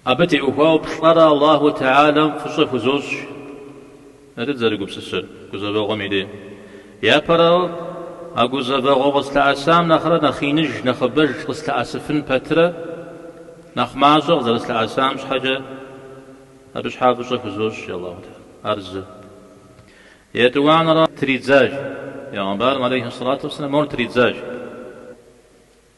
Абы теухуауэ плӏэрэ Аллаху Теалэм фӏыщӏэ хузощӏ, ар дызэрыгупсысэр, гузэвэгъуэм и дей. Япэрауэ, а гузэвэгъуэ къыслъэӏэсам нэхърэ нэхъ иныж, нэхъыбэж къыслъэӏэсыфын пэтрэ, нэхъ мащӏэ къызэрыслъэӏэсам щхьэкӏэ, абы щхьа фӏыщӏэ хузощӏ Аллаху Теалэ. Ар зы. Етӏуанэрэ тридзащ. Бегъымбарым, алейхи сэлату уэсэлам, мор тридзащ.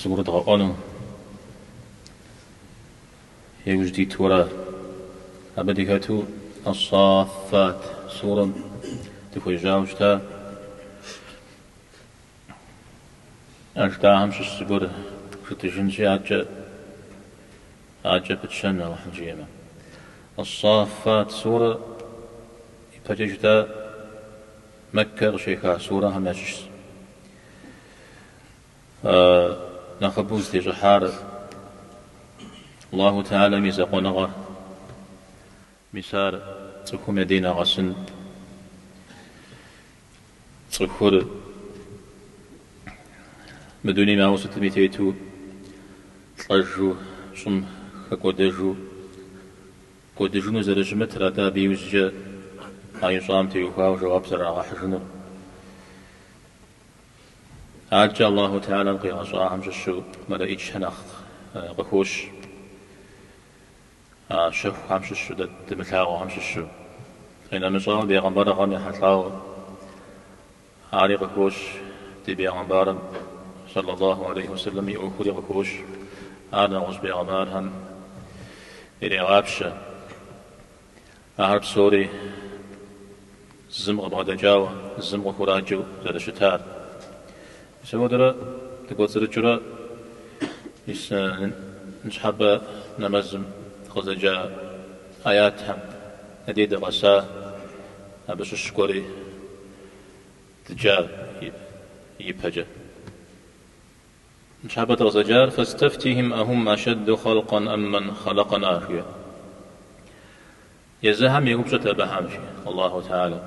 Зыгурыдгъэӏуэну иужь дитурэ абы дыхэту Ас-Саффат сурэм дыхуежьауэ щыта? А жытӏахэм щыщ зыгуэр жытӏыжынщи, адэкӏэ адэкӏэ пытщэн Алыхьым жиӏэмэ. Ас-Саффат сурэр ипэкӏэ жытӏа, Мэккэ къыщеха сурэхэм ящыщщ. Нэхъыбэу зытещӏыхьар Аллаху Теалэм и закъуэныгъэр. Мис ар цӏыхум я дей нэгъэсын. Цӏыхур мы дунейм ауэ сытми тету лӏэжу, щӏым хэкӏуэдэжу кӏуэдыжыну зэрыщымытыр, атӏэ абы иужькӏэ а ищӏам теухуауэ жэуап зэрырагъэхьыжынур. Адэкӏэ Аллаху Теалэм къигъэщӏахэм щыщу мэлэӏичхэр нэхъ къыхощ, а щэхухэм щыщу дэ дымылъагъухэм щыщу. Къинэмыщӏауэ, бегъымбарыгъэм ехьэлӏауэ ари къыхощ, ди бегъымбарым, сэллаллаху алейхи ва сэллэм, и ӏуэхури къыхощ, ар нэгъуэщӏ бегъымбархэм ирегъапщэ. Ахэр псори зым къыбгъэдэкӏауэ, зым къыхураджэу зэрыщытар. Мис апхуэдэурэ дыкӏуэцӏрыкӏыурэ мис ныщхьэбэ нэмэзым дыкъызэджа ӏэятхэм я дей дыкъэса, абы щыщ гуэри дыджар ипэкӏэ. Ныщхьэбэ дыкъызэджар Фастафтихим Ахум ашадду халкъан ам ман халакъана жиӏэ. Езыхэм еупщӏыт абыхэм жи Аллаху Теалэ.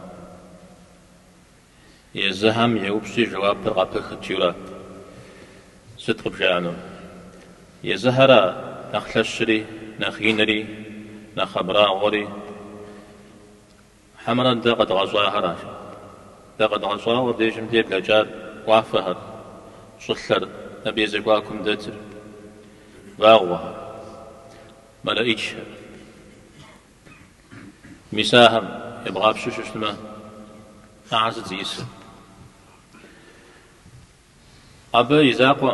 Езыхэм еупщӏи жэуапыр къапыхыт ара. Сыт къыбжаӏэну? Езыхэра нэхъ лъэщри, нэхъ инри, нэхъ абрагъуэри, Хьэмэрэ дэ къэдгъэщӏахэра жи. Дэ къэдгъэщӏауэ абдежым дыблэкӏар уафэхэр, щӏылъэр, абы и зэхуакум дэтыр, вагъуэхэр, мэлэӏичхэр. Мис ахэм ебгъапщэу щыщтмэ, ахэр сыт зиӏысыр? Абы и закъуэ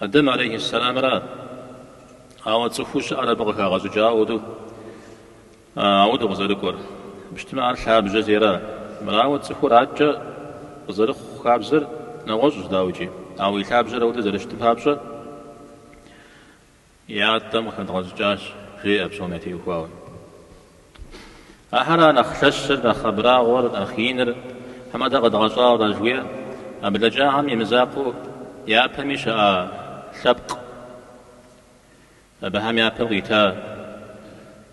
Адэм алейхьиссэламрэ ауэ цӏыхуу щыӏэр абы къыхагъэщӏыкӏауэ ауэду къызэрыкӏуэр. Абы щытмэ ар лъабжьэ зейра? Мырауэ цӏыхур адэкӏэ къызэрыхъу хабзэр нэгъуэщӏщ, дауикӏи. Ауэ и лъабжьэр ауэду зэрыщытым папщӏэ, Ятӏэм къыхэдгъэщӏыкӏащ, жеӏэ псом ятеухуауэ. Ахэр ара нэхъ лъэщыр, нэхъ абрагъуэр, нэхъ иныр, хьэмэ дэ къэдгъэщӏар жыхуиӏэр, а блэкӏахэм и мызакъуэу япэми щыӏа лъэпкъ, абыхэм я пэм къита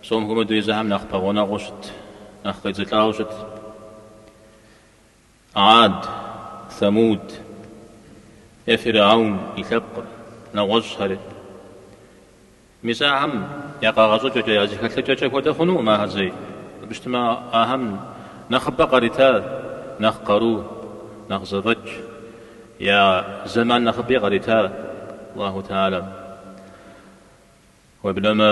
псом хуэмыдэу езыхэм нэхъ пэгъунэгъуу щыт, нэхъ къедзылӏауэ щыт. Ад, Самуд е Фиргьаун и лъэпкъыр, нэгъуэщӏхэри. Мис ахэм я къэгъэщӏыкӏэкӏэ, я зэхэлъыкӏэкӏэ хуэдэ хъунуӏым ахэр зэи. Абы щытмэ, ахэм нэхъыбэ къарита нэхъ къару, нэхъ зэфӏэкӏ, я зэман нэхъыби къарита Аллаху Теалэ. Уеблэмэ.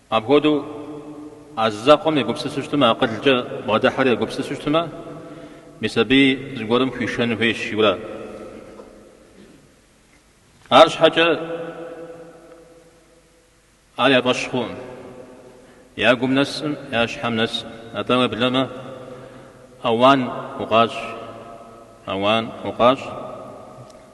Апхуэдэу а зы закъуэм егупсысу щытмэ, акъылкӏэ бгъэдыхьэри егупсысу щытмэ, мис абы зыгуэрым хуишэн хуейщ, жиӏэу ара. Арщхьэкӏэ ар я фӏэщ хъуӏым, я гум нэсӏым, я щхьэм нэсӏым. Атӏэ уеблэмэ, ауан укъащӏ, ауан укъащӏ.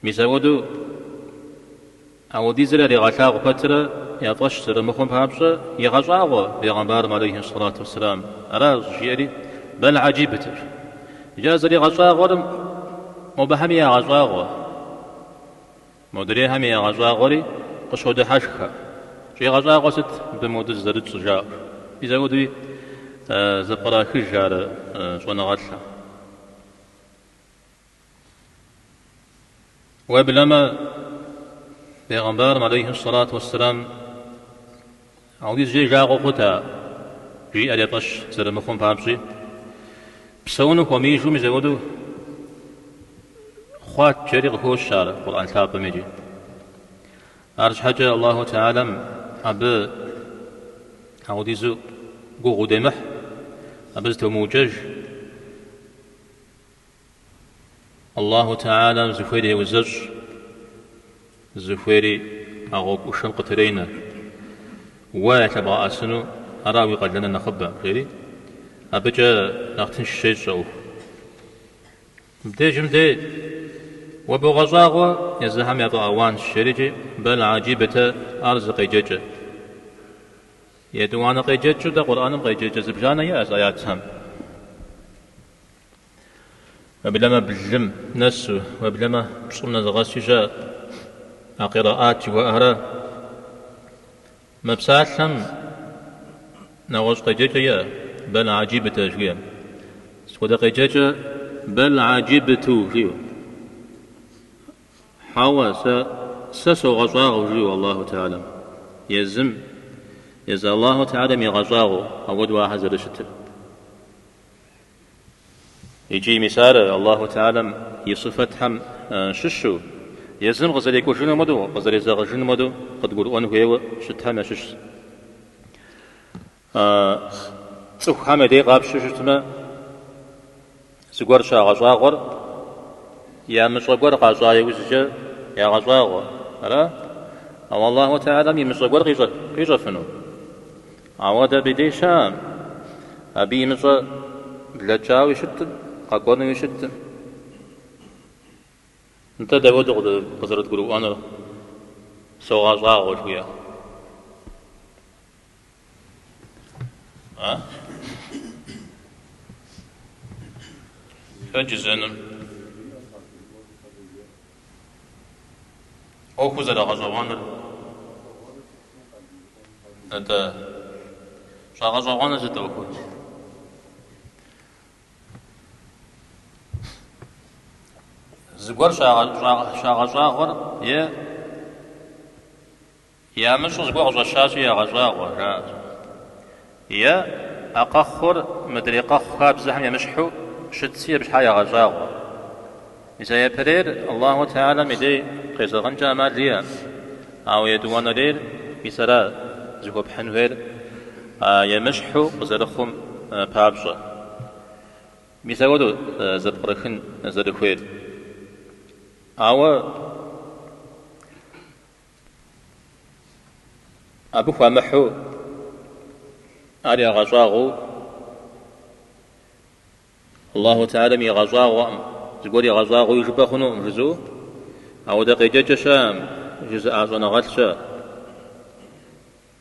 Мис ауэду ауэдизыр яригъэлъагъу пэтрэ я фӏэщ зэрымыхъум папщӏэ, игъэщӏагъуэ пегъэмбарым алейхи сэлату уэсселам аращ, жиӏэри бэл гьэджибтэр. Иджы а зэригъэщӏагъуэрым мобыхэми ягъэщӏагъуэ, модрейхэми ягъэщӏагъуэри къыщодыхьэшхэ. Щӏигъэщӏагъуэ сыт мыбы моды зызэрытщӏ жаӏэр? Мис ауэдуи зэпкърахыж ар щӏэныгъэлӏым. Уеблэмэ, Пегъэмбарым алейхи сэлату уэсселам ауэдизкӏэ и жагъуэ хъута, жиӏэри я тӏэщ, зэрымыхъум папщӏи, псэуну хуэмеижу мис ауэду хъуат, жери къыхощ ар Къурӏэн лъапӏэм иджы. Арщхьэкӏэ Аллаху Теалэм абы ауэдизу гугъу удемыхь, абы зытеумыукӏэж. Аллаху Теалэм зыхуейри еузэщӏ, зыхуейри а гъуэгушэм къытренэ. Уэ ялъэбгъэӏэсыну ара уи къалэныр нэхъыбэ? жери, абыкӏэ нэхъ тынш щещӏ ӏуэху. Мыбдежым дей, уэ богъэщӏагъуэ езыхэм яфӏэауанщ, жерикӏи, бэл гьэджибтэ ар зы къеджэкӏэ. Етӏуанэ къеджэкӏыу дэ Къурӏэным къеджэкӏэ зыбжанэ иӏэщ аятхэм. Уеблэмэ блым нэсу, уеблэмэ пщӏым нэзыгъэси щыӏэщ. А къираӏат жыхуаӏэхэрэ мы псалъэм нэгъуэщӏ къеджэкӏэ иӏэ, бэл аджибытэ жыхуиӏэм. Сыт хуэдэ къеджэкӏэ бэл аджибыту жиӏэу? Хьэуэ, сэ, сэ согъэщӏагъуэу жиӏэу Аллаху Теалэм. Езым, езы Аллаху Теалэм игъэщӏагъуэу ауэдэу ахэр зэрыщытыр. Икӏи мис ар Аллаху Теалэм и сыфэтхэм щыщу, езым къызэрекӏужынум хуэдэу, къызэрезэгъыжынум хуэдэу къыдгурыӏуэн хуейуэ щытхэм ящыщщ. Цӏыхухэм я дей къапщтэу щытмэ, зыгуэр щагъэщӏагъуэр ямыщӏэ гуэр къащӏа иужькӏэ ягъэщӏагъуэ, ара? Ауэ Аллаху Теалэм имыщӏэ гуэр къищӏэфыну? Ауэдэ абы дей щыӏэм, абы имыщӏэ блэкӏауи щытым, къэкӏуэнуи щытым. Нтӏэ, дауэдэу къызэрыдгурыӏуэнур? Согъэщӏагъуэ жиӏэ. А? Хэджызэным. ӏуэхуу зэрагъэщӏэгъуэныр, атӏэ, щӏагъэщӏэгъуэныр сыт ӏуэхур? Зыгуэр щагъэщӏагъуэр е Ямыщӏу зыгуэр къыщӏэщащи, ягъэщӏагъуэу аращ. Е а къэхъур мыдрей къэхъу хабзэхэм емыщхьу щытщи, абы щхьа ягъэщӏагъуэ. Мис а ипэрейр Аллаху Теалэм и дей къезэгъынкӏэ ӏэмал иӏэм, ауэ етӏуанэрейр мис ара зыхуэпхьын хуейр а емыщхьу къызэрыхъум папщӏэ. Мис апхуэдэу зэпкърыхын зэрыхуейр. Ауэ. Абы хуамыхьу ар ягъэщӏагъуэу Аллаху Теалэм игъэщӏагъуэкъым, зыгуэр игъэщӏагъуэуи жыпӏэ хъунукъым жызу, ауэдэ къеджэкӏэ щыӏэкъым, жызыӏа щӏэныгъэлӏ щыӏэщ.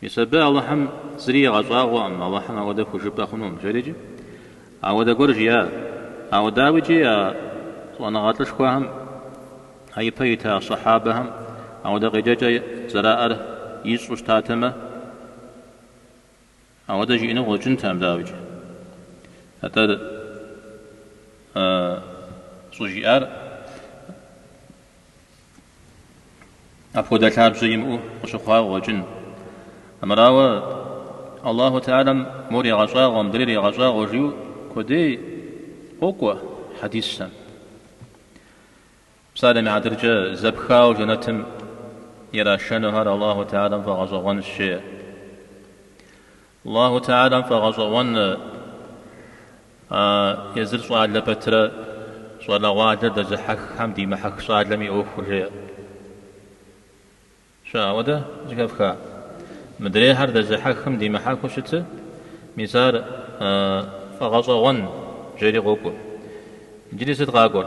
Мис абы Алыхьым зыри игъэщӏагъуэкъым, Алыхьым ауэдэ хужыпӏэ хъунум, жери икӏи. Ауэдэ гуэр жиӏат. Ауэ дауикӏи а щӏэныгъэ лӏышхуэхэм, а ипэ ита сэхьабэхэм ауэдэ къеджэкӏэ зэраӏэр ищӏу щытатэмэ, ауэдэ жиӏэну къыщӏэкӏынтэкъым, дауикӏи. Атӏэ щӏыжиӏар. Апхуэдэ лъабжьэ имыӏэу къыщыхъуауэ къыщӏэкӏын. Амырауэ, Аллаху Теалэм мор егъэщӏагъуэ, мыдрейри егъэщӏагъуэ жиӏэу куэдей къокӏуэ хьэдисхэм. Псалъэм и хьэтыркӏэ, зэпхауэ жэнэтым ирашэнухэр Аллаху Теалэм фӏэгъэщӏэгъуэнщ, жеӏэ. Аллаху Теалэм фӏэгъэщӏэгъуэн езыр щӏалэ пэтрэ щӏалэгъуалэр дэзыхьэххэм димыхьэх щӏалэм и ӏуэхур, жиӏащ. Апхуэдэ зыхэфха? Мыдрейхэр дэзыхьэхым димыхьэхыу щыты, мис ар фӏэгъэщӏэгъуэн, жери къокӏуэ. Иджыри сыт къакӏуэр?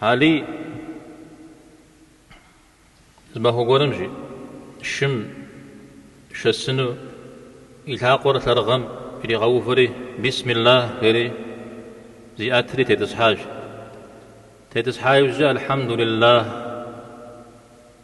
Алий зы махуэ гуэрым жи шым шэсыну и лъакъуэр лъэрыгъым иригъэувэри, Бисмиллахь! жери зиӏэтри тетӏысхьащ. Тетӏысхьа иужькӏэ Алхьэмдулиллахь!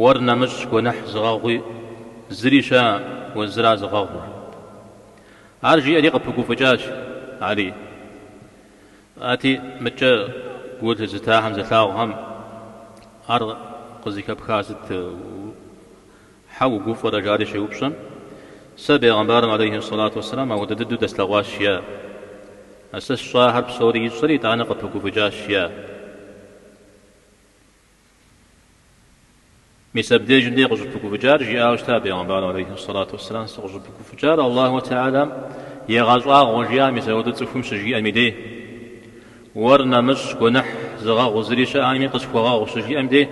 Уэр нэмыщӏ гуэныхь зыгъэгъуи зыри щыӏэкъым, уэ зыра зыгъэгъур. Ар жиӏэри къыпыгуфӏыкӏащ Алий. Ати, мыдкӏэ гу лъызытахэм, зылъагъухэм ар къызыхэпха сыт? Хьэ угуфӏэрэ? жари щеупщӏэм, сэ бегъымбарым алейхи сэлату уэсэлам апхуэдэ дыдэу дэслъэгъуащ, жиӏа. А сэ сщӏахэр псори ищӏэри, итӏанэ къыпыгуфӏыкӏащ, жиӏа. Мис абдежым дей къыщӏыпыгуфӏыкӏар жиӏауэ щыта Пегъэмбарым алейхи сэлату уэсселам, Сыкъыщӏыпыгуфӏыкӏар Аллаху Теалам егъэщӏагъуэ жиӏа мис апхуэдэу цӏыхум щыжиӏэм и дей. Уэр нэмыщӏ, гуэныхь зыгъэгъу зыри щыӏэкъыми къысхуэгъэгъу щыжиӏэм дей,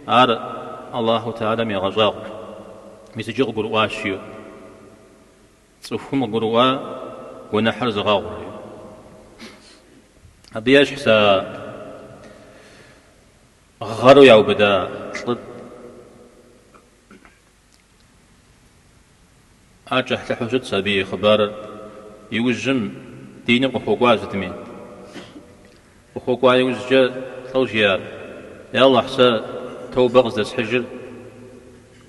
ар Аллаху Теалам егъэщӏагъуэ. Мис иджы къыгурыӏуащ, жиӏэу. Цӏыхум къыгурыӏуа гуэныхьыр зыгъэгъур. Абы ещхьщ а гъэру яубыда лӏыр. Ар кӏыхьлӏыхьу щытщ абы и хъыбарыр. Иужьым, диным къыхуэкӏуа сытми. Къыхуэкӏуа иужькӏэ лӏэу жиӏар, Я Алыхь, сэ тоубэ къыздэсхьыжыр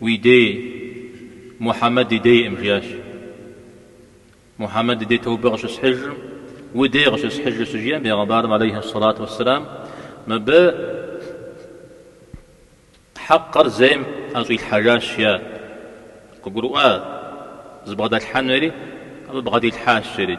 Уи дей, Мухьэмэд и дейкъым, жиӏащ. Мухьэмэд и дей тоубэ къыщысхьыжыркъым, Уи дей къыщысхьыжыр щыжиӏэм, Пегъэмбарым, алейхи ссалату уэсселам, мыбы хьэкъыр зейм ӏэщӏилъхьэжащ, жиӏа. Къыгурыӏуа, зыбгъэдилъхьэнури, абы бгъэдилъхьащ, жери.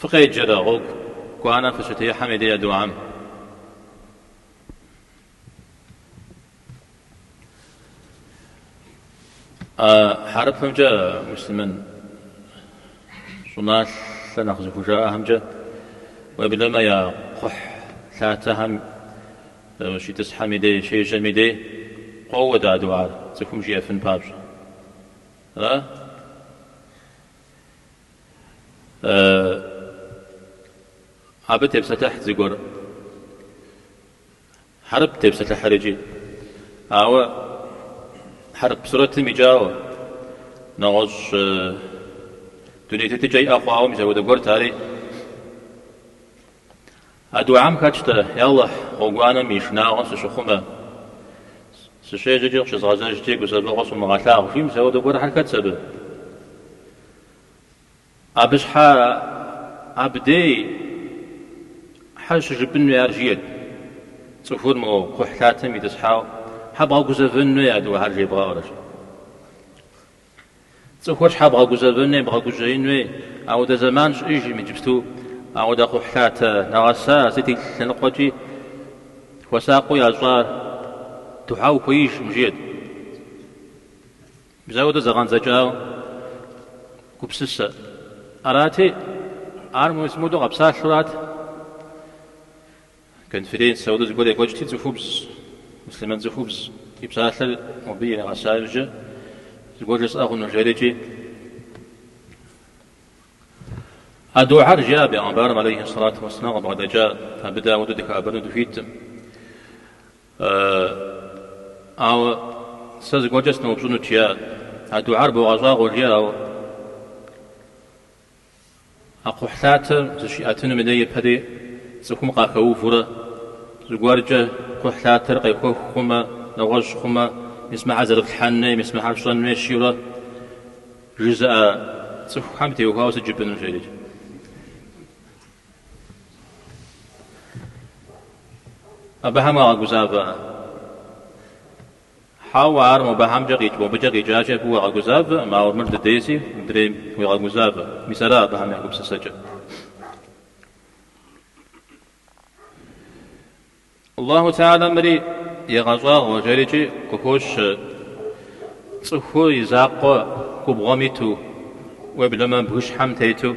Фыкъеджэрэ гъуэгуанэ фыщытехьэм и дей а духьэм? Хьэрыпымкӏэ муслъымэн щӏыналъэ нэхъ зыхужаӏэхэмкӏэ уеблэмэ я кхъухь лъатэхэм щитӏысхьэм и дей, щежьэм и дей къоуэ а духьэр цӏыхум жиӏэфын папщӏэ. Ара? Абы тепсэлъыхьт зыгуэр. Хьэрып тепсэлъыхьыр икӏи. Ауэ хьэрып сурэтым икӏауэ, нэгъуэщӏ дуней тетыкӏэ иӏэ хъуауэ мис апхуэдэ гуэрт ари. А духьэм хэтщ-тӏэ, Ялыхь, гъуэгуанэм и шынагъуэм сыщыхъумэ, сыщежьэкӏи къыщызгъэзэжкӏи, гузэвэгъуэ сумыгъэлъагъу, жи, мис апхуэдэ гуэрхэр хэтс абы? Абы щхьэ абдей хьэ щыжыпӏын хуей ар жиӏэт, цӏыхур мо кхъухьлъатэм итӏысхьауэ хьэ бгъэгузэвэн хуей а духьэр жебгъэӏэурэ. Цӏыхур щхьэ бгъэгузэвэн хуей, бгъэгужьеин хуей? Апхуэдэ зэман щыӏэжкъым, иджыпсту апхуэдэ кхъухьлъатэ нэгъэса сыт и лъэныкъуэкӏи хуэсакъыу ящӏа, духьэ ухуеижкъым жиӏэт. Мис апхуэдэ зэгъэдзэкӏауэ гупсысэ. Арати, ар мис мыпхуэдэу къэпсалъэу арат. Конференц апхуэдэ зыгуэр екӏуэкӏти, цӏыхубз, муслъымэн цӏыхубз и псалъэр мыбы иригъэса иужькӏэ, зыгуэр жысӏэ хъуну жэрикӏи, А духьэр жиӏа Бегъымбарым алейхи сэлату уэссэлам къыбгъэдэкӏа, абы дэ апхуэдэу дыхэӏэбэну дыхуиткъым. Ауэ сэ зыгуэркӏэ сноупщӏынут, жиӏа. А духьэр богъэщӏагъуэ, жиӏа, ауэ. А кхъухьлъатэр зыщиӏэтынум дей ипэри цӏыхум къахэувурэ, зыгуэркӏэ кхъухьлъатэр къехуэх хъумэ, нэгъуэщӏ хъумэ, мис мыхьэр зэрыплъхьэн хуей, мис мыхьэр пщӏэн хуей жиӏэурэ жызыӏэ цӏыхухэм теухуауэ сыт жыпӏэну жери? Абыхэм къагъэгузавэ. Хьэуэ, ар мобыхьэмкӏэ къикӏ мобыкӏэ къикӏакӏэ абы уигъэгузавэкъым, ауэ мыр дыдейси, мыдрейм, уегъэгузавэ. Мис ара абыхэм я гупсысэкӏэр? Аллаху тэхьэла мыри егъэщӏагъуэ жэрикӏи къыхощ, цӏыху и закъуэ губгъуэм иту, уеблэмэ бгыщхьэм тету.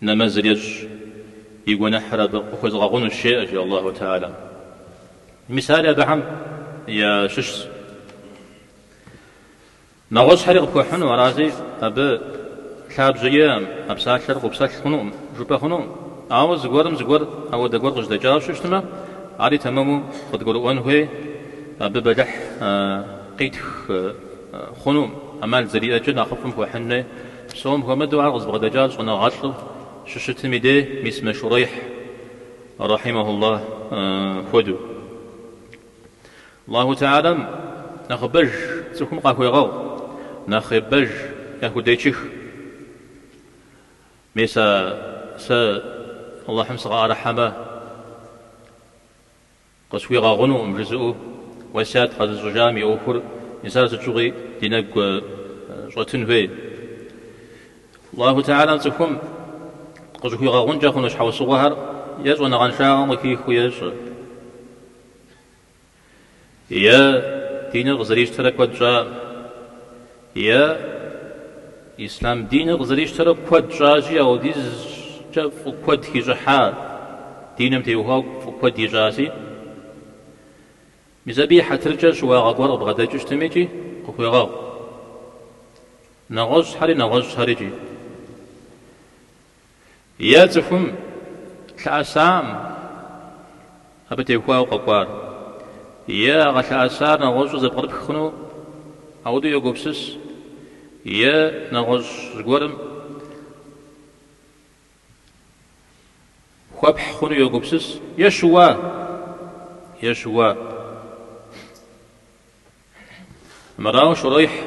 Нэмэзыр ещӏ, и гуэныхьыр абы къыхуэзыгъэгъунущ, жеӏэ, жи Аллаху Теалэм. Мисали абыхэм ящыщщ нэгъуэщӏхэри къыпхуэхьыну, арази абы лъабжьэ иӏэкъым, а псалъэр къэппсэлъ хъунукъым, жыпӏэ хъунукъым. Ауэ зыгуэрым зыгуэр ауэдэ гуэр къыжьэдэкӏауэ щыщтмэ, ари тэмэму къыдгурыӏуэн хуей, абы бэлыхь къитх хъунукъым, ӏэмал зэриӏэкӏэ нэхъыфӏым хуэхьын хуей. Псом хуэмыдэу ар къызыбгъэдэкӏар щӏэныгъэлӏу щыщытым и дей мис мы Шурейхь, рахьимэхуллах, хуэдэу. Аллаху Теалэм нэхъыбэж цӏыхум къахуегъэгъу, нэхъыбэж яхудечых. Мис а сэ Аллахьым сыкъыӏэрыхьэмэ, Къысхуигъэгъунукъым жызыӏэу уэсят къэзыщӏыжам и ӏуэхур, мис ар сыт щыгъуи ди нэгу щӏэтын хуей. Аллаху Теалэм цӏыхум къыщӏыхуигъэгъункӏэ хъуну щхьэусыгъуэхэр е щӏэныгъэншагъэм къыхихыу ещӏэ, е диныр къызэрищтэрэ куэд щӏакъым. Е, ислъам диныр къызэрищтэрэ куэд щӏащи, ауэдизкӏэ фӏы куэд хищӏыхьа, диным теухуауэ фӏы куэд ищӏащи, мис абы и хьэтыркӏэ щыуагъэ гуэр къыбгъэдэкӏыу щытмикӏи къыхуегъэгъу. Нэгъуэщӏхэри, нэгъуэщӏхэри икӏи. Е цӏыхум лъэӏэсакъым абы теухуауэ къэкӏуар, е а къылъэӏэсар нэгъуэщӏу зэпкърыпх хъуну ауэдэу йогупсыс, е нэгъуэщӏ зыгуэрым хуэпхь хъуну йогупсыс, е щыуа, е щыуа. Мырауэ Шурейхь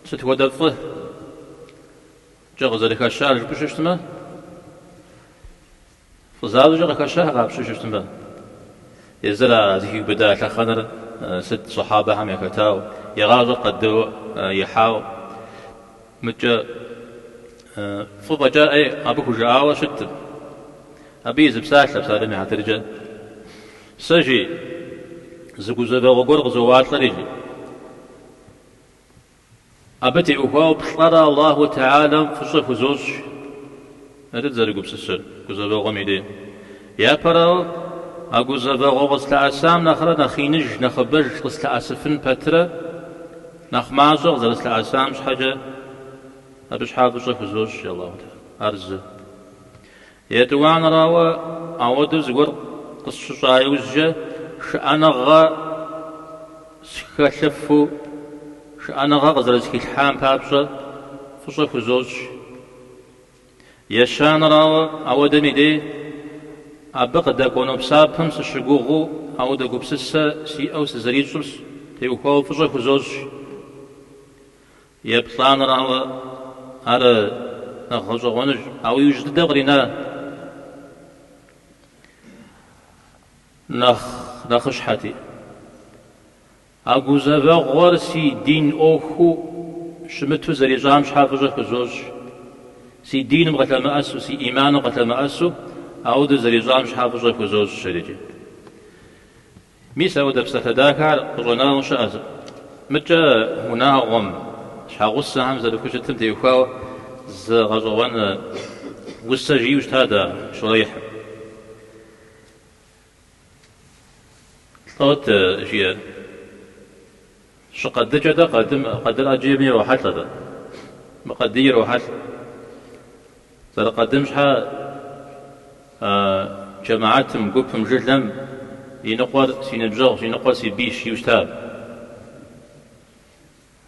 сыт хуэдэ фӏыкӏэ къызэрыхэщар жыпӏэу щыщтмэ, фӏы защӏэкӏэ къыхэща къапщтэу щыщтмэ, езыр а зыхиубыда лъэхъэнэр сыт сэхьабэхэм яхэтауэ, и гъащӏэр къадыуэ ихьауэ, мыдэкӏэ фӏы фӏэкӏа ӏей абы хужыӏауэ щыткъым. Абы и зы псалъэ псалъэм и хьэтыркӏэ. Сэ, жи, зы гузэвэгъуэ гуэр къызоуалӏэри, жи. Абы теухуауэ плӏэрэ Аллаху Теалэм фӏыщӏэ хузощӏ, ары дызэрыгупсысыр, гузэвэгъуэм и дей. Япэрауэ, а гузэвэгъуэ къыслъэӏэсам нэхърэ нэхъ иныж, нэхъыбэж къыслъэӏэсыфын пэтрэ, нэхъ мащӏэ къызэрыслъэӏэсам щхьэкӏэ, абы щхьа фӏыщӏэ хузощӏ, жи, Аллаху Теалэ. Ар зы. Етӏуанэрауэ, ауэдэу зыгуэр къысщыщӏа иужькӏэ, шыӏэныгъэ схэлъыфу, шыӏэныгъэ къызэрызхилъхьам папщӏэ фӏыщӏэ хузощӏ. Ещанэрауэ, ауэдэм и дей, абы къыдэкӏуэну псапэм сыщыгугъыу ауэдэ гупсысэ сиӏэу сызэрищӏыр теухуауэ фӏыщӏэ хузощӏ. Еплӏанэрауэ, ар нэхъ гъэщӏэгъуэнущ, ауэ иужь дыдэ кърина нэхъ нэхъыщхьэти. А гузэвэгъуэр си дин ӏуэхуу щымыту зэрищӏам щхьэ фӏыщӏэ хузощӏ. Си диным къылъэмыӏэсу, си ӏиманым къылъэмыӏэсу ауэдэу зэрищӏам щхьэ фӏыщӏэ хузощӏ, жери. Мис ауэдэ псалъэ дахэ ар къыщӏэнауэ щыӏэ зы. Мыдкӏэ унагъуэм, щхьэгъусэхэм зэрыхущытым теухуауэ зы гъэщӏэгъуэн усэ жиӏэу щыта дэ Шурейхьым. Лӏот жиӏэр. Щыкъэдыкӏэ къэдым къэдыр ӏэджэми ирохьэлӏэ, атӏэ. Мы къэдий ирохьэлӏ. Зэрыкъэдым щхьэ а джэмэатым, гупым, жылэм и ныкъуэр си ныбжьэгъущ, и ныкъуэр си бийщ жиӏэу щыта.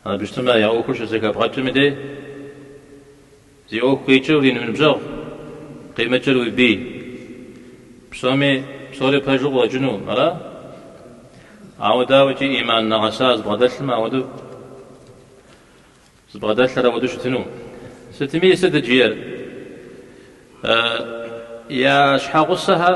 Абы щытмэ, я ӏуэхур щызэхэбгъэкӏми дей, Зи ӏуэху къикӏыр уи ныбжьэгъу, къимыкӏыр уи бий. Псоми псори пэжу къыуэкӏыну ара? Ауэ дауэкӏи ӏиман нэгъэса зыбгъэдэлъым ауэдэу зыбгъэдэлъыр ауэдэу щытыну? Сытми сытыт жиӏэр я щхьэгъусэхэр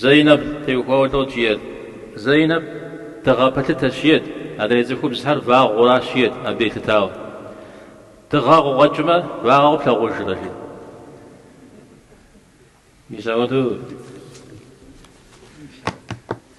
Зэйнэб теухуауэ лӏо жет. Зэйнэб дыгъэ пэлъытэщ ет. Адрей цӏыхубзхэр вагъуэращ ет абы елъытауэ. Дыгъэ къыкъуэкӏмэ, вагъуэ къэплъагъужрэ жи. Мис ауэдэу.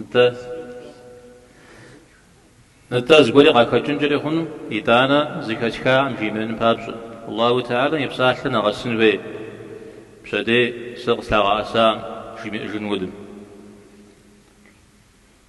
Нтӏэ. Нтӏэ, зыгуэри къахэкӏынкӏэри хъуну, итӏанэ зыхэтхакъым жимыӏэн папщӏэ. Аллаху Теалэм и псалъэ нэгъэсын хуей, пщэдей сэ къыслъагъэӏэсакъым жимыӏэжын удым.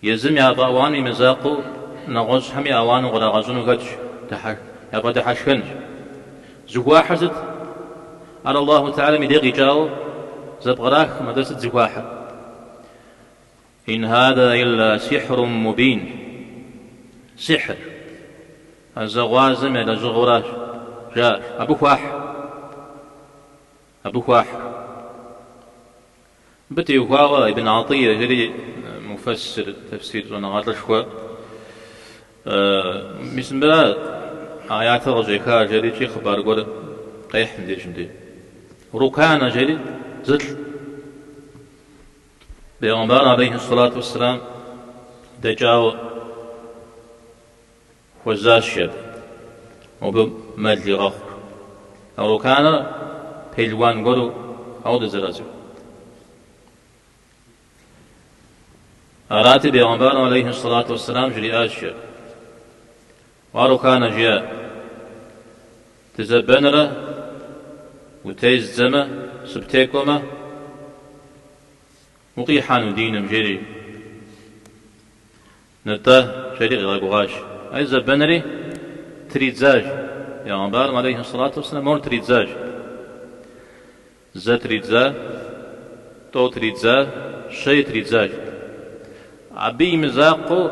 Езым яфӏэауану и мызакъуэу нэгъуэщӏхэми ауану кърагъэщӏыну хэтщ, яфӏэдыхьэшхэнщ. Зыхуахьыр сыт? Ар Аллаху Теалэм и дей къикӏауэ зэпкърахкъым, атӏэ сыт зыхуахьыр? Ин хада илла сихьрум мубин. Сихьыр, ӏэзэгъуазэм я лэжьыгъэуращ, жаӏэрщ. Абы хуахь. Абы хуахь. Мыбы теухуауэ Ибн Гӏатӏийэ жери муфэссир, тефсир, щӏэныгъэлӏышхуэ, мис мыбыра аятыр къыщӏеха жерикӏи хъыбар гуэр къехь мыбдежым де. Рукана жери зылӏ. Бегъымбар алейхьи сэлату уэсселам дэкӏауэ. Хуэзащэт, мобы мэл игъэхъу. А Руканэр пелуан гуэру арауэт зэрацӏыхур. Арати, бегъымбарым алейхи сэлату уэсэлам жриӏащ, Уа Руканэ, жиӏэ, дызэбэнрэ утездзэмэ, сыптекӏуэмэ, укъихьэну диным, жери. Нтӏэ, жери къигъэгугъащ. Ай зэбэнри тридзащ. Пегъэмбарым алейхи сэлату уэсэлам мор тридзащ. Зэ тридза, тӏэу тридза, щэи тридзащ. Абы и мызакъуэу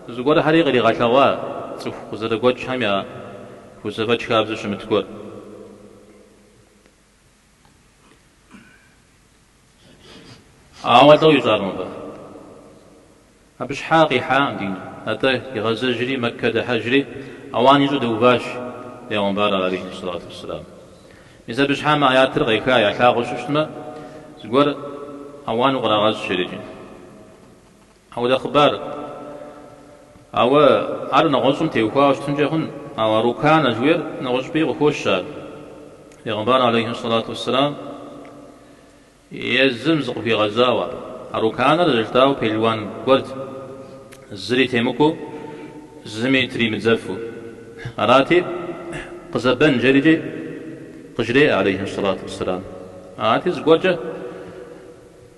зыгуэрхэри къригъэлъэгъуа цӏыху къызэрыгуэкӏхэм яхузэфӏэкӏ хабзэу щымыт гуэр. Ауэ атӏэ уищӏакъым абы. Абы щхьа къихьакъым дин. Атӏэ, игъэзэжри, Мэккэ дыхьэжри, ауан ищӏу дэуващ Пегъумбар алейхи сэлату уэсселам. Мис абы щхьа мы аятыр къеха, ялъагъуу щыщтмэ, зыгуэр ауан укърагъэщӏ жерикӏи. Апхуэдэ хъыбар. Ауэ ар нэгъуэщӏым теухуауэ щытынкӏэ хъун. Ауэ Рукана жыхуиӏэр нэгъуэщӏыпӏи къыхощ ар. Пегъымбар алейхьи сэлату уэсселам езым зыкъыхуигъэзауэ. А Руканэр зэрыжытӏауэ пелуан гуэрт, зыри темыкӏуэу, зыми тримыдзэфу. Арати, къызэбэн жерикӏи къыжреӏэ алейхьи сэлату уэсселам. Арати, зыгуэркӏэ.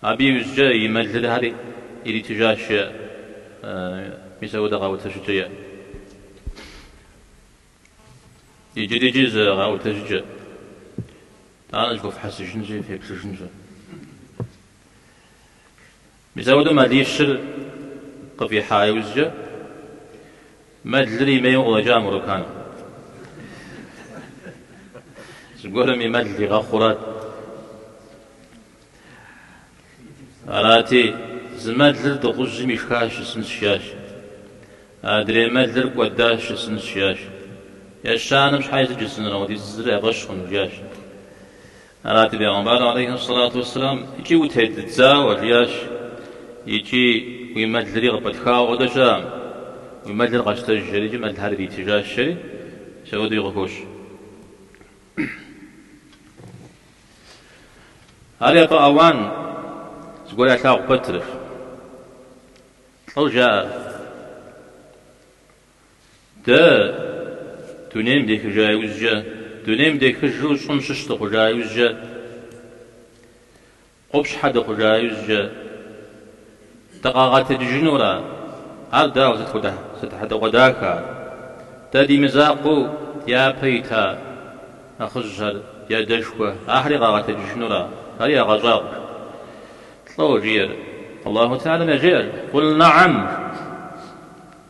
Абы иужькӏэ и мэлырхьэри иритыжащ, жеӏэ мис апхуэдэ къэӏуэтэжыкӏэ иӏэщ. Иджырикӏи зы къэӏуэтэжыкӏэ, тӏанэ зэхуэфхьэсыжынщи, феплъыжынщи. Мис апхуэдэу мэлищыр къыфӏихьа иужькӏэ. Мэлыр и мейуэ къыщӏэкӏа мо Рукан. Зыгуэрым и мэл игъэхъурат. Арати, зы мэлыр дыгъужьым ишхащ жысӏэнщ, жиӏащ. Адрей мэлыр кӏуэдащ жысӏэнщ, жиӏащ. Ещанэм щхьа сыт жысӏэнрэ къыдидзысынрэ я фӏэщ хъуну? жиӏащ. Арати, Бегъымбар алейхьи ссалату уэсселам, икӏи утеддзауэ, жиӏащ, икӏи уи мэлри къыпӏытхауэ къыдэкӏа, уи мэлыр къэщтэж, жери икӏи мэлхэр иритыжащ, жери мис ауэдэуи къыхощ. Ар япэ ӏэуан зыгуэр ялъагъу пэтрэ, лӏо жаӏэр. Дэ, дунейм дехыжа иужькӏэ, дунейм дехыжу щӏым щыщ дыхъужа иужькӏэ, къупщхьэ дыхъужа иужькӏэ, дыкъагъэтэджыжынура? Ар дауэ, сыт хуэдэ хьэдэгъуэдахэ ар? Дэ ди мызакъуэу дяпэ ита нэхъыжьхэр, ди адэшхуэ, ахэри къагъэтэджыжынура? Ари ягъэщӏагъуэ, лӏо жиӏэр. Аллаху Теалэм яжеӏэр, Къул, Нэгъэм!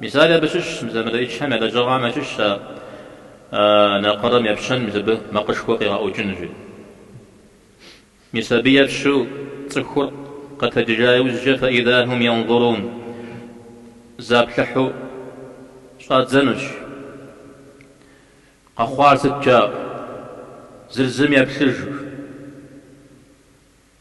Мисали, абы щыщщ мис а мелыӏычхэм я лэжьыгъэхэм ящыщщ ар, накъырэм епщэн мис абы макъышхуэ къигъэӏукӏыну жиӏэу. Мис абы епщэу цӏыхур къэтэджыжа иужькӏэ фаиза хьум йанзурун заплъыхьу щӏадзэнущ. Къэхъуар сыт жаӏэу? Зыр зым еплъыжу.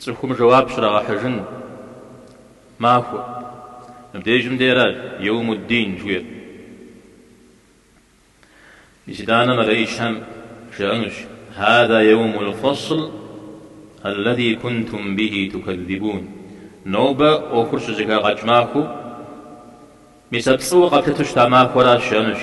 Цӏыхум жэуап щрагъэхьыжын махуэ. Мыбдежым деращ Еумуддин жиӏэр. Мис итӏанэ мелыӏычхэм жаӏэнущ, Хьэза еумул фэсл аллази кунтум бихи тукэззибун. Нобэ ӏуэхур щызэхагъэкӏ махуэу, мис а пцӏыуэ къэплъыту щыта махуэращ, жаӏэнущ.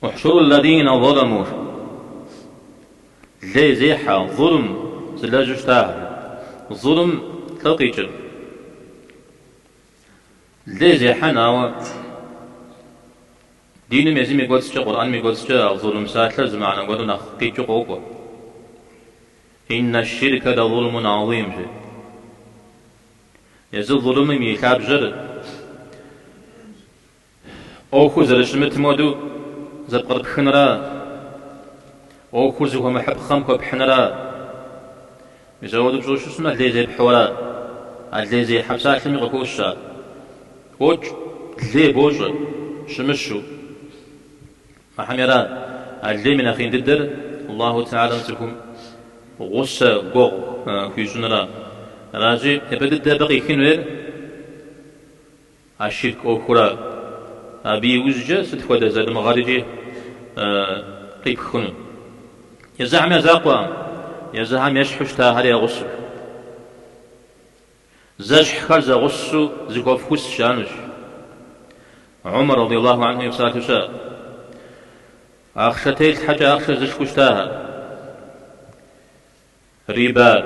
Ухьшуру ллазина заламу. Лей зехьэ, зулм зылэжьу щытахэм. Зулм, лӏо къикӏыр. Лей зехьэн, ауэ диным езым и кӏуэцӏкӏэ, Къурӏэным и кӏуэцӏкӏэ а зулм псалъэр зы мыхьэнэ гуэру нэхъ къикӏыу къокӏуэ. Инна ширка ла зулмун азим, жи. Езы зулмым и лъабжьэр. ӏуэхур зэрыщымытым хуэдэу зэпкърыпхынра ӏуэхур зыхуэмыхьыпхъэм хуэпхьынра. Мис ауэдэу пщӏэу щытмэ, лей зепхьэу ара. А лей зехьэ псалъэми къыхощ ар. Къокӏ, лей бощӏэ, щымыщу. Ахьэм иран, а лейм и нэхъ ин дыдэр Аллаху Теалэм цӏыхум гъусэ гуэгъу хуищӏынра. Аращ япэ дыдэ абы къихын хуейр. А ширк ӏуэхура, абы иужькӏэ сыт хуэдэ залымыгъэрикӏи къипх хъуну. Езыхэм я закъуэкъым, езыхэм ещхьу щытахэр ягъусэу. Зэщхьхэр зэгъусэу зыхуэфхус жаӏэнущ. Умар радиаллаху анхум и псалъэу щыӏэ, ахъшэ телъхьэкӏэ ахъшэ зышхыу щытахэр. Рибар,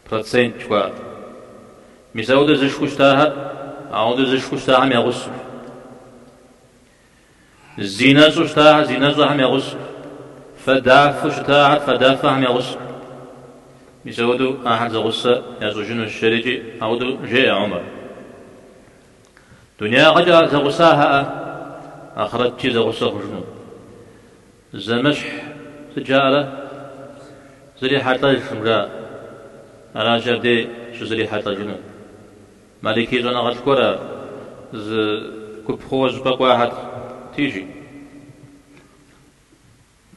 процент жыхуаӏэр. Мис ауэдэ зышхыу щытахэр, ауэдэ зышхыу щытахэм я гъусэщ. Зинэщӏэу щытахэр зинэщӏэхэм я гъусэщ. Фадафэу щытахэр фадафэхэм я гъусэщ. Мис ауэдэу ахэр зэгъусэ ящӏыжынущ, жерикӏи ауэдэу жеӏэ Умар. Дунеягъэкӏэ зэгъусахэр ахърэткӏи зэгъусэ хъужыну. Зэмыщхь сыт жаӏэрэ, зэрихьэлӏэжкъым жаӏэ. Аращ абдей щызэрихьэлӏэжынур. Маликий щӏэныгъэлӏ гуэрэ зы гуп хъууэ щӏыпӏэ кӏуахэти, жи.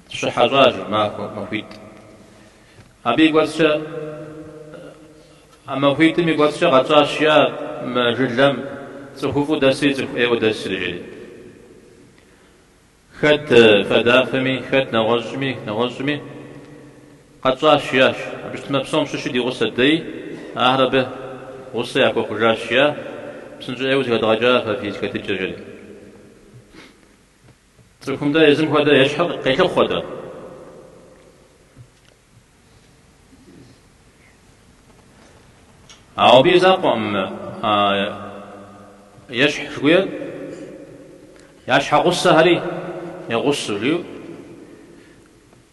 Щыхьэщӏа, жеӏэ, махуэ, махуитӏ. Абы и кӏуэцӏкӏэ, а махуитӏым и кӏуэцӏкӏэ къэтщӏащ, жиӏа, мы жылэм цӏыхуфӏу дэсри цӏыху ӏейуэ дэсри, жери. Хэт фадафэми, хэт нэгъуэщӏми, нэгъуэщӏми къэтщӏащ, жиӏащ. Абы щытмэ, псом щыщу ди гъусэт, дэи ахэр абы гъусэ яхуэхъужащ, жиӏа псынщӏэ ӏейуэ зэхэдгъэкӏа фэ фи зэхэтыкӏэр, жери. Цӏыхум-тӏэ езым хуэдэ ещхьыр къелъыхъуэ-тӏэ? Ауэ абы и закъуэкъым ещхь жыхуиӏэр, я щхьэгъусэхэри ягъусэу, жиӏэу.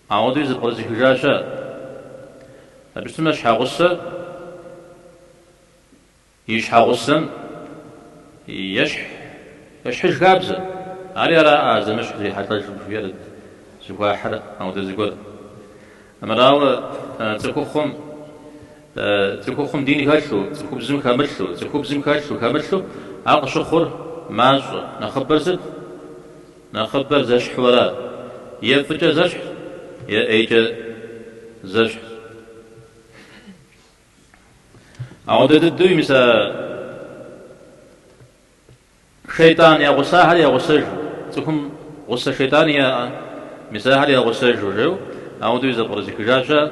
Ауэдэуи зэбгъэзэхыжащ ар. Абы щытмэ, щхьэгъусэр И щхьэгъусэм ещхь ещхьыж хабзэ. Ари ара а зэмыщхь зэрихьэлӏэжкъым жыхуиӏэр зыхуахьыр ауэдэ зыгуэр. Амырауэ, цӏыхухъум, цӏыхухъум дин хэлъу, цӏыхубзым хэмылъу, цӏыхубзым хэлъу, хэмылъу, ар къыщыхъур мащӏэ. Нэхъыбэр сыт? Нэхъыбэр зэщхьу ара. Е фӏыкӏэ зэщхьщ, е ӏейкӏэ зэщхьщ. Ауэдэ дыдэуи мис а шейтӏан я гъусахэр ягъусэжу, цӏыхум гъусэ шейтӏани яӏэ, мис ахэр ягъусэжу жеу, ауэдэуи зэбгъэзэхыжащ ар.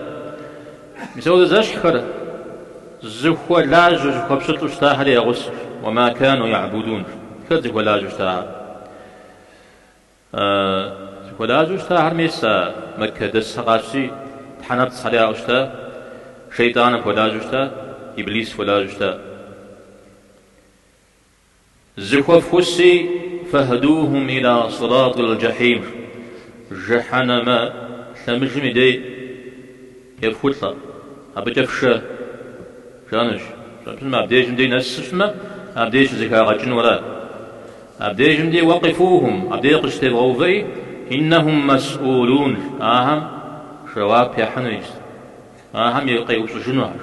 Мис ауэдэ зэщхьхэр зыхуэлажьэу, зыхуэпщылӏу щытахэр ягъусэщ. Уэ ма кэну яӏбудун, ахэр зыхуэлажьэу щытахэр. Зыхуэлажьэу щытахэр мес а Мэккэ дэсхэр къащти, тхьэнэпцӏхэри яӏэу щыта? Шейтӏан хуэлажьэу щыта? Иблис хуэлажьэу щыта? Зэхуэфхуси, Фэхьдухум иля сыратӏил джэхьим, Жэхьэнэмэ лъэмыжым и дей ефхулӏэ, абыкӏэ фшэ. Жаӏэнущ, щӏыпӏэм абдежым дей нэсыжмэ, абдей щызэхагъэкӏыну арат. Абдежым дей уэ къифухум, абдей къыщытевгъэувэри, Иннэхум мэсӏулун, ахэм жэуап яхьыну иджы. Ахэм и къеупщӏыжынухэ.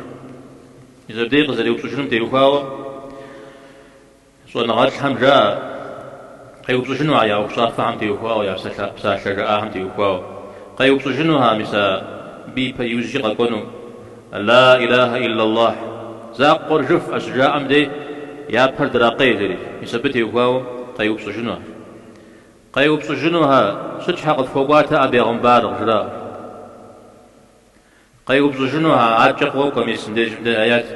Мис абдей къызэреупщӏыжынум теухуауэ. Щӏэныгъэлӏхэм жаӏэр, къеупщӏыжынухэ я ӏуэхущӏафэхэм теухуауэ, я псалъэ жаӏахэм теухуауэ. Къеупщӏыжынуха, мис абы ипэ, иужькӏэ къэкӏуэну? Ла илахьэ иллаллахь, закъуэр жыфӏэ щыжаӏэм дей, я пэр дракъейри, мис абы теухуауэ къеупщӏыжынухэ. Къеупщӏыжынуха, Сыт щхьэ къыфхуэкӏуатэ а бегъымбар? къыжраӏэу. Къеупщӏыжынухэ адкӏэ къокӏуэ мис мыбдежым дей аят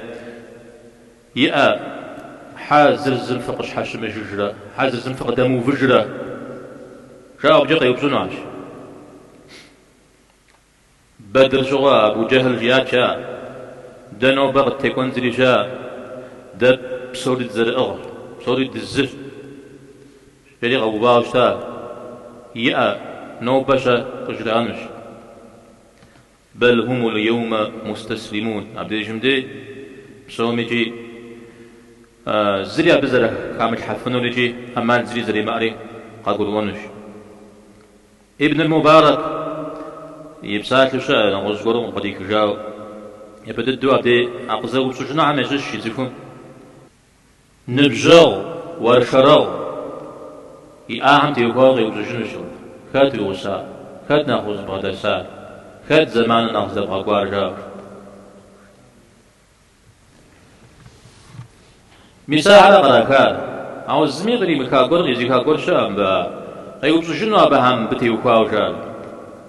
иӏэ, Хьэ зыр зым фыкъыщхьэщымыжыжрэ, хьэ зыр зым фыкъыдэмыувыжрэ? жаӏэу абыкӏэ къеупщӏынухэщ. Бэдыр щыгъуэ Абу Джэхьл жиӏат, жаӏэ, Дэ нобэ къыттекӏуэн зыри, жаӏэ, дэ псори дызэрыӏыгъщ, псори дызыщ, жери къэувауэ щыта, иӏэ, нобэ щэ къыжраӏэнущ. Бэл хумул еумэ мустаслимун. Абдежым дей псоми икӏи зыри абы зэрыхамылъхьэфынур икӏи ӏэмал зыри зэримыӏэри къагурыӏуэнущ. Ибнул Мубарак и псалъэу щыӏэ, нэгъуэщӏ гуэрым къыдихыжауэ. Япэ дыдэу абдей а къызэупщӏыжынухэм ящыщщ цӏыхум. Ныбжьэгъу, уэршэрэгъу иӏахэм теухуауэ къеупщӏыжынущ абы, хэт уи гъусар, хэт нэхъ узыбгъэдэсар, хэт зэманыр нэхъ здэбгъэкӏуар, жаӏэу. Мис ахэр кърахар, ауэ зыми къримыха гуэр, къизиха гуэр щыӏэ мыбы, а къеупщӏыжыну абыхэм мыбы теухуауэ жаӏэу.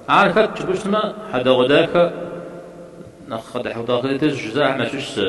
Ар хэт жыпӏэу щытмэ, хьэдэгъуэдахэ, нэхъ къыдыхьутӏэ къытетыжь жызыӏэхэм ящыщ зы.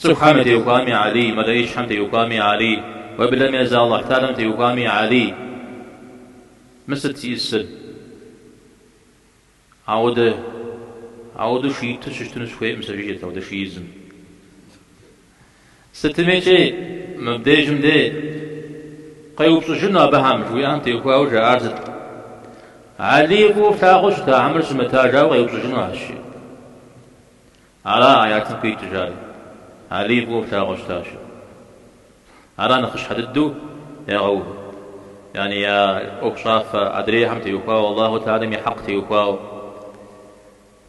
Цӏыхухэм ятеухуами Алий, мэлэӏычхэм теухуами Алий, уэблэм езы Алыхьталэм теухуами Алий. Мы сыт зищӏысыр? Ауэдэу шииту щытыну сыхуейкъым сэ, жиӏэрт ауэдэ шиизым. Сытми икӏи мыбдежым де къеупщӏыжыну абыхэм, жыхуиӏэхэм теухуауэ жаӏар сыт? Алий фӏыуэ флъагъуу щыта хьэмэрэ щымыта жаӏэу къеупщӏыжынухэщи. Ара аятым къикӏыжар? Алий фӏыуэ плъагъуэу щытащ. Ара нэхъыщхьэ дыдэу ягъэувыр? Яни я ӏуэхущӏафэ адрейхэм теухуауэ, Аллаху таалям и хьэкъ теухуауэ,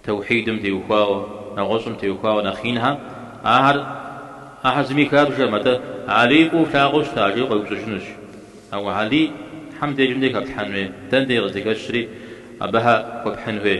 таухьидым теухуауэ, нэгъуэщӏым теухуауэ нэхъ инхэ, ахэр ахэр зыми хабжэкъым, атӏэ Алий фӏыуэ плъагъуэу щыта? жиӏэу къеупщӏыжынущ. Ауэ Алийхэм дежым де хэплъхьэн хуей? Дэнэ де къыздыхэщри, абыхэ хуэпхьын хуей?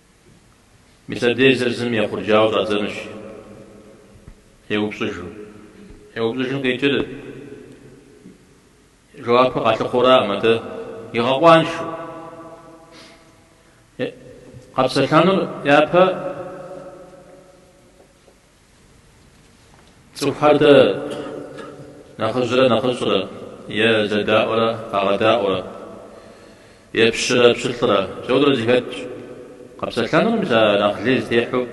Мис абдеж зыр зым ехъурджауэу щӏадзэнущ, еупщӏыжу. Еупщӏыжын къикӏыр жэуапу къалъыхъуэураӏым, атӏэ игъэкъуаншу. Къэпсэлъэнур япэ Цӏыхухэр дэ нэхъыжьрэ нэхъыщӏэрэ е зэдаӏуэрэ къагъэдаӏуэрэ е пщырэ пщылӏрэ мисауэдэурэ зыхэтщ. Къэпсэлъэнур мис а нэхъ лей зытехьэу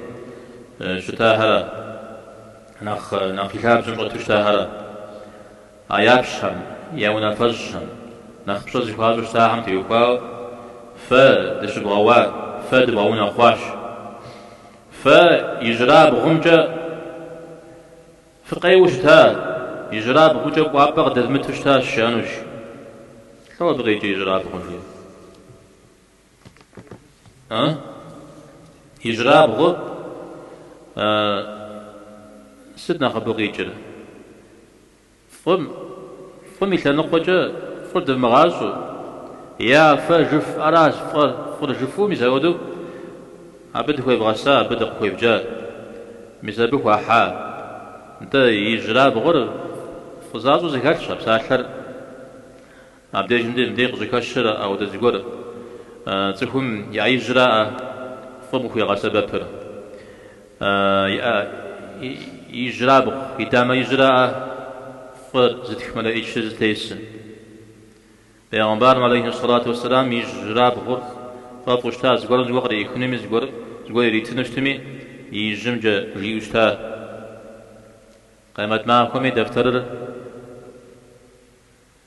щытахэра, нэхъ нэхъ и лъабжьэм щӏэту щытахэра, а япщхьэм, я унафэщӏхэм, нэхъ пщӏэ зыхуащӏу щытахэм теухуауэ фэ дыщыбгъэуа, фэ дыбгъэунэхъуащ. Фэ ижьырабгъумкӏэ фыкъеуэу щыта, ижьырабгъукӏэ кӏуапӏэ къыдэвмыту щыта жаӏэнущ. Лӏо абы къикӏи ижьырабгъу, жи? А? Ижьырабгъур сыт нэхъ абы къикӏыр? Фӏым, фӏым и лъэныкъуэкӏэ фӏыр дывмыгъащӏэу, е а фэ жыфӏэращ фӏэр, фӏыр жыфӏэу, мис апхуэдэу абы дыхуевгъэса, абы дыкъыхуевджа, мис абы хуахьа. Нтӏэ, ижьрабгъур фӏызащӏэу зэхэлъщ а псалъэр. Абдежым деж дей къыщыхэщыр ауэдэ зыгуэр цӏыхум и ӏэ ижьраӏэ фӏым къыхуегъэсэбэпыр. Ижьрабгъу, и дамэ ижьраӏэ фӏы зытх мэлэӏичыр зытесыр. Пэйгъэмбарым алейхи сэлату уэсэлам ижьрабгъур фӏэфӏу щыта, зыгуэрым зыгуэр къриӏыхынуми, зыгуэр зыгуэр иритыну щытми, и ижьымкӏэ ищӏэу щыта. Къемэт махуэми дэфтэрыр.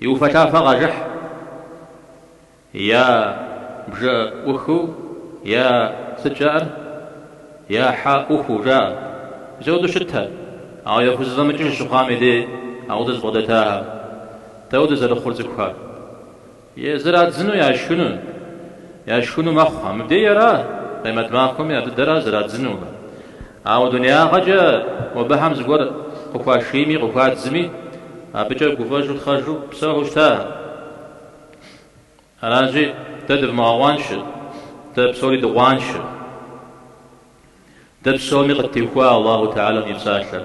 И уфэлъафэ къажыхь, я бжэ ӏухыу, я сыт жаӏэр, я хьэ ӏухыу жаӏэ. Мисауэдэу щытэ, ауэ яхузэфӏэмыкӏыж щыхъуам и дей ауэдэ зыбгъэдэтахэм, дауэдэ зэрыхъур цӏыхухэр? Е зэрадзыну яшхыну, яшхыну мэхъухэ, мыбдеи ара, къемэт махуэми ар дыдэра зэрадзынур. Ауэ дунеягъэкӏэ абыхэм зыгуэр къыхуашийми къыхуадзми, абыкӏэ гуфӏэжу тхъэжу псэухэу щыта? Аращи, дэ дывмыгъэкъуаншэ, дэ псори дыкъуаншэ. Дэ псоми къыттехуа Аллаху Теалэм и псалъэр.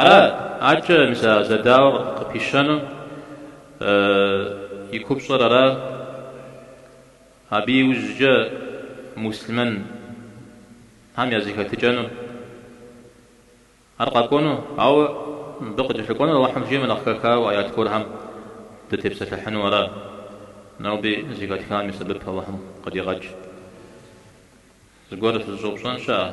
Ара акӏэ мис а зэдауэ къыпищэну и купщӏэр ара? Абы иужькӏэ муслъымэнхэм я зэхэтыкӏэну ар къэкӏуэну, ауэ мыбы къыкӏэлъыкӏуэнур Алыхьым жиӏэмэ нэхъ хэхауэ аят гуэрхэм дытепсэлъыхьыну ара? Ноби зыхэтхам и сэбэп Алыхьым къыдигъэкӏ. Зыгуэр фызыщӏэупщӏэн щыӏэ?